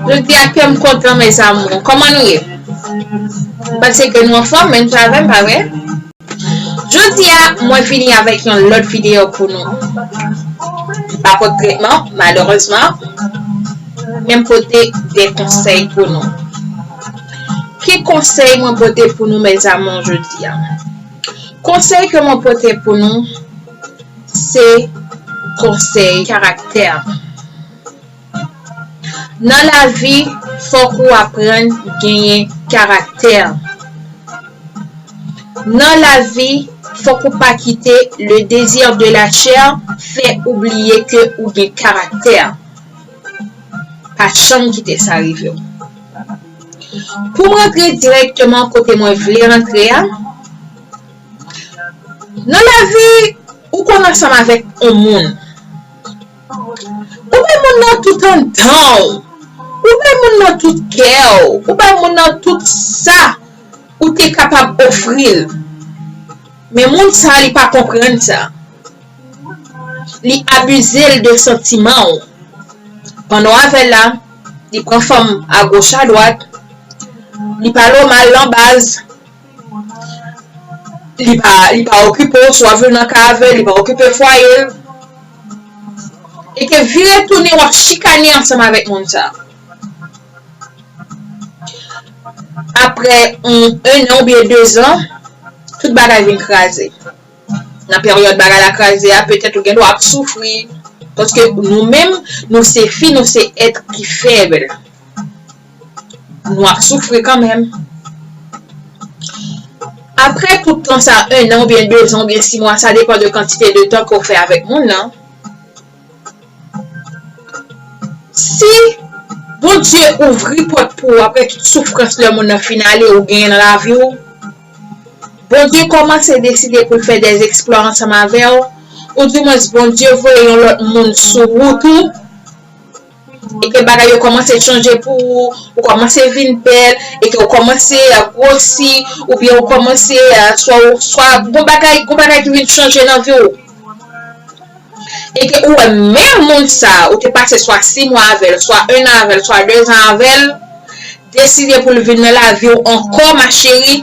Jodi a kèm kontan mes amours. Koman nou ye? Panse ke nou anfòm menm jan avèm pa vre? Jodi a mwen vini avèk yon lòt video pou nou. M pa pot tretman malerezman menm pote de konsèy pou nou. Ki konsèy mwen pote pou nou mes amours jodi a? Konsèy ke mwen pote pou nou se konsèy karaktè. Nan lavi fòk ou aprann genyen karaktè. Nan lavi fòk ou pa kite le désir de la chair fè ou bliye ke ou gen karaktè. Pa janm kite sa rive w. Pou m rantre dirèkteman kote mwen vle rantre a, Nan lavi, ou konn ansanm avèk on moun. Ou bay moun nan tout anndan ou. Ou bay moun nan tout kè ou. Ou bay moun nan tout sa ou te kapab ofri l. Men moun sa li pa konprann sa. Li abize l de santiman ou. Pandan w avè l la, li pran fanm agoch adwat. Li pale w mal nan baz. Li pa li pa okipe w, swa vin nan ka avè l, li pa okipe fwaye l. E ke vire tounen wap chikane ansanm avèk moun sa. Aprè on 1 an ou byen 2 zan, tout bagay vin kraze. Nan peryòd bagay la kraze a, petèt ou gen dwa ap soufri, paske nou menm nou se fi, nou se èt ki fèb. nou ap soufri kanmenm. Aprè tout tan sa, 1 an oubyen 2 zan oubyen 6 mwa, sa depan de kantite de tan ke w fè avèk moun nan, si Bondye ouvri pòt pou ou aprè tout soufrans lè moun nan fin ale ou genyen nan lavi w, Bondye kòmanse deside pou l fè dè eksplwa ansanm avè w, ou di mwens Bondye voye yon lòt moun sou wout ou, e ke bagay yo kòmanse chanje pou ou, ou kòmanse vin bèl, e ke ou kòmanse gwosi, ou byen ou kòmanse, swa ou, swa gon bagay, gon bagay ki vin chanje nan vi ou, e ke ou wè menm moun sa, ou te pase swa 6 mwa avèl, swa 1 an avèl, swa 2 zan avèl, deside pou l vin nan lavi ou ankò ma cheri,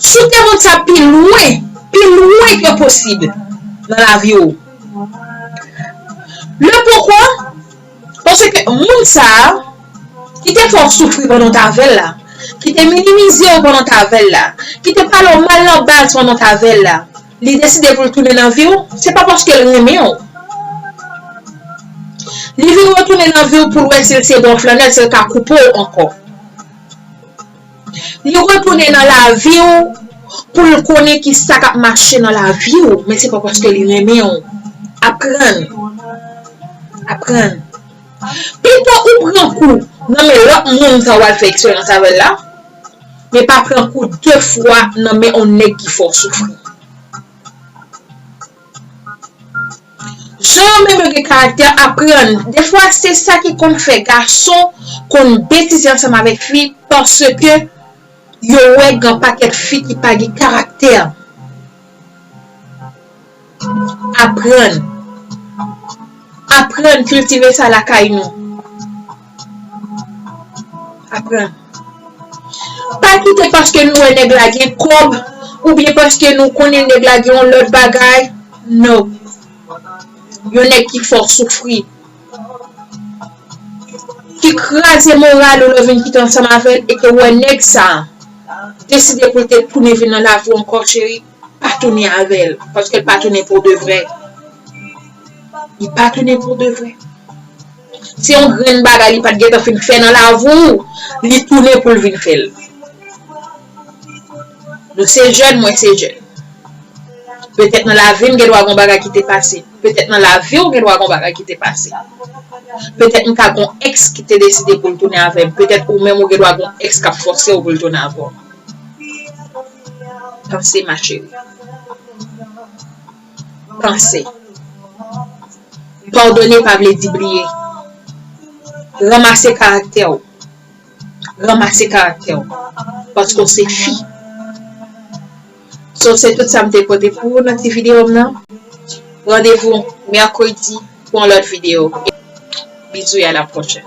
Si w te montre sa pi lwen, pi lwen ke posib nan lavi w. Le pokwa, panse ke moun sa a, ki te fè w soufri pandan w te avè l la, ki te minimize w pandan w te avè l la, ki te pale w mal nan baz pandan w te avè l la, li deside pou l tounen nan vi w, se pa paske l renmen w. Li vin retounen nan vi w pou l wè si l se bon flannè, si l ka koupe w ankò. Nou retounen nan lavi w pou l konnen ki sa k ap mache nan lavi w, men se pa paske li renmen w. Aprann. Aprann. Pito ou pran kou nan men lòt moun sa w al fè eksperyans avè l la, men pa pran kou de fwa nan men yon nèg ki fè w soufri. Jan yo menm yo gen karaktè aprann defwa se sa ki konn fè gason konn betize ansanm avèk fi paske yo wè gen pakèt fi ki pa gen karaktè aprann aprann kiltive sa lakay nou. Aprann. Pa kite paske nou wè nèg la gen kòb oubyen paske nou konnen nèg la gen yon lòt bagay, no. Yon nèg ki fè w soufri. Ki kraze moral ou lè w vin kite ansanm avè l e ke w wè nèg sa deside pou l te tounen vin nan lavi w ankò cheri. pa tounen avèl paske l pa tounen pou de vrè li pa tounen pou de vrè se yon grenn bagay li pat gen tan fin fè nan lavou li tounen pou l vin fè l nou se jèn mwen se jèn petèt nan lavi m gen dwa gon bagay ki te pase petèt nan lavi w gen dwa gon bagay ki te pase petèt m ka gon èks ki te deside pou l tounen avèm petèt ou menm ou gen dwa gon èks kap fòse w pou l tounen avèw. Panse ma chérie. Panse. Pardonner pa vle di bliye. Ranmase karaktè ou. Ranmase karaktè ou. Paske ou se fi. So se tout sa m te pote pou ou nan ti videyo m nan. Randevou mèkredi pou yon lòt videyo. Bizou e a la pwochèn.